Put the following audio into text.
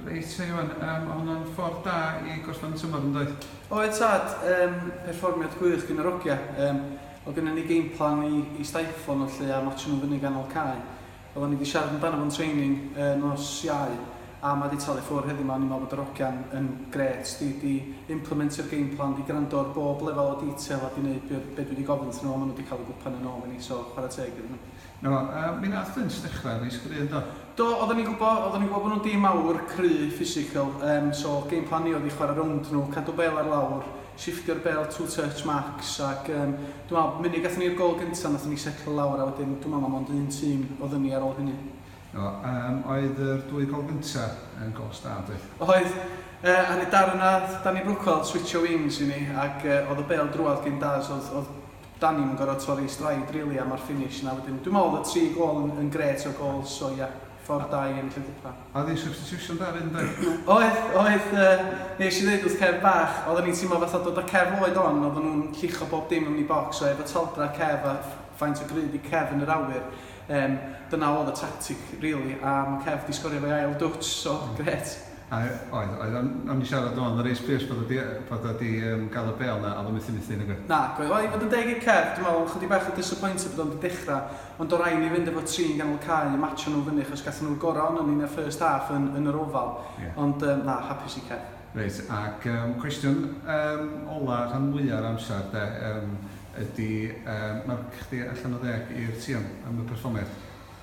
Reit, Iwan, yym, o' hwnna'n ffordd da i gollwng tymor, yn doedd? Oedd tad, yym, perfformiad gwych gin yr ogia, yym, o' gynna ni game plan i i stiflo nhw 'lly a matsio nhw fyny ganol cae. Odda ni 'di siarad amdano fo'n training y nos Iau a ma' 'di talu ffwr heddiw 'ma, o'n i'n me'wl bod yr ogia'n yn grêt, 'di 'di implimentio'r game plan, 'di grando ar bob lefel o detail a 'di neud be' be' dwi 'di gofyn 'thyn nhw a ma' nhw 'di ca'l y gwpan yn ôl i ni, so chwara teg iddyn nhw. Na, yy mi nath Vince ddechra reit gry' yndo? Do, oddan ni'n gwbo, oddan ni'n gwbo bo' nhw'n dîm mawr, cry', physical, yym so game plan ni oedd i chwara' rownd nhw, cadw bêl ar lawr, shifftio'r bêl two touch max ac yym dwi me'wl munud gathon ni'r gôl gynta' nathon ni setlo lawr a wedyn dwi me'wl ma' mond un tîm odd yni ar ôl hynny. Do, yym oedd yr dwy gôl gynta' yn gôls da doedd? Oedd, yy ar y darn 'na nath Danny Brookwell switsio wings i ni ac yy o'dd y bêl drwadd gin Daz, o'dd o'dd Dan ni'm yn gorfod torri stride rili a ma'r finish 'na wedyn. Dwi'n meddwl oedd y tri gôl yn yn grêt o gôls so ia, ffordd da i ennill y gwpan. Oedd hi'n substitution da 'fyd yn doedd? Oedd, oedd yy neis i ddeud wrth Kev bach, oedden ni'n teimlo fatha dod â Kev oed on, oedden nhw'n llicho bob dim ymni bocs so efo taldra Kev a faint o grud i Kev yn yr awyr yym dyna oedd y tactic rili a ma' Kev 'di sgorio efo'i ail dwtsh so grêt. A oedd, oedd. O'n, o'n i'n siarad rŵan efo Reece Pierce bod o 'di, bod o 'di yym gael y bêl 'na a oedd o methu methu nag oedd? Nag oedd. Wel i fod yn deg i Kev, dwi'n meddwl o'n chydig bach o disappointed bod o'n 'di dechrau, ond do' rai' ni fynd efo tri yn ganol cae a matsio nhw fyny achos gathon nhw'r gorau ohonon ni yn y first half yn, yn yr Oval. Ie. Ond yym na, hapus i Kev. Reit, ac yym cwestiwn yym ola' rhan mwya' o'r amser 'de yym ydi yym marc chdi allan o ddeg i'r tîm am y perfformiad?